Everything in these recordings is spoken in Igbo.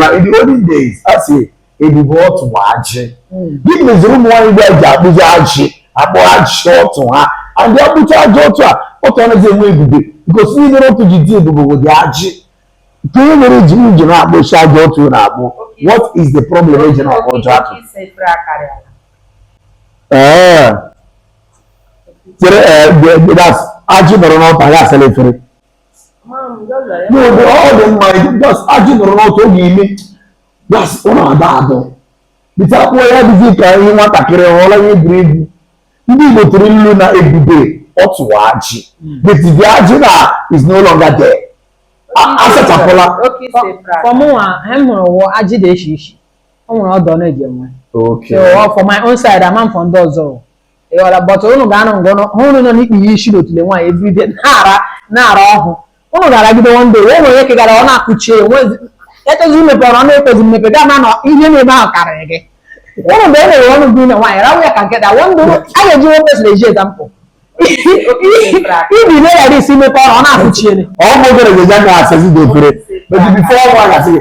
na in the olden days a sị ebube ọtụ bụ ajị gịnị meziri ụmụ nwaanyị ugbu a ji akpụzi ajị akpụ ajị ọtụ ha and a kpụchaa ajị ọtụ a ọtụ anaghị enwe ebube because ihe mere ọtụ ji dị ebube bụ the ajị ka ihe mere ji m ji na-akpụcha ajị ọtụ na-akpụ what is the problem e ji na-akpụ ajị ọtụ ee chere ee ajị nọrọ n'ọtụ anyị asala efere n'oge ọ dị mma that's ajị nọrọ n'ọtụ gị ị me that's ọ na-adọ adọ but a kpụọ ya dịzi ka ihe nwatakịrị ọla ihe buru ibu ndị Igbo tụrụ ilu na ebube ọtụ wụ ajị but the ajị now is no longer there a sachapụla for mụnwa ihe m hụrụ wụ ajị dị iche iche o nwere odour ọ na-eji enwe so for my own side ama m for ndị ọzọ ị ghọla but ụnụ ga-anọ ngọ nọ- hụ ụnụ nọ n'ikpuye isi n'otule nwaanyị everyday na-ara na-ara ọhụ ụnụ ga-aragide one day o nwere ike gị ara ọnụ akụchie enwezi ekwezi imepe ọnụ ọ na-ekwezi mmepe gị ama na ihe nọ ebe ahụ karịrị gị ụnụ mgbe e mere ọnụ gị na nwaanyị rawa ya ka nkịta one day ụnụ- a ga-eji one person eji example ibi na-eghara isi imepe ọnụ ọnụ akụchiere ọ bụ obere ga-eji aka asazi the efere but before one asị gị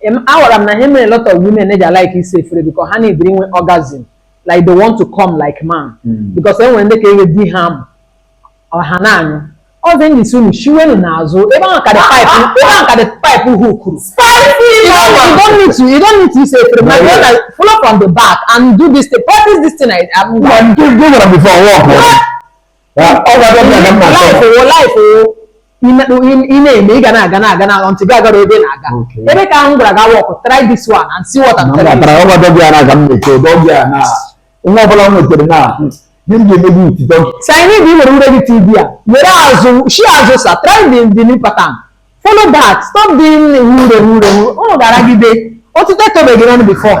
Em, aghọrọ m na ihe mere lot of women na-eji alike ịsa efere because ha na-ebiri inwe orgasm like they want to come like man Mm. because e nwere ndị ka ihe di ha amụ ọ ha na-anyụ ọzọ ndị si unu shiwenu n'azụ ebe ahụ ka the pipe ebe ahụ ka the pipe hookuru You don't, you don't need to you don't need to ịsa efere my No, yeah. brother follow from the back and do this thing practice this thing I, I'm Gwa ndị gwa gwara before work. ị na-eme ị ga na-aga na-aga until gị agara ebe na-aga ebe ka m gwara ga-work try this one and see what I'm telling nwa ọbụla m nwetara na gị m ga-eme gị iti doggy style ị bụ ị were ure gị tv a were azụ shi azụ sa try the the new pattern follow that stop doing ure ure unu ga-aragide otite tobe gị n'ọnụ before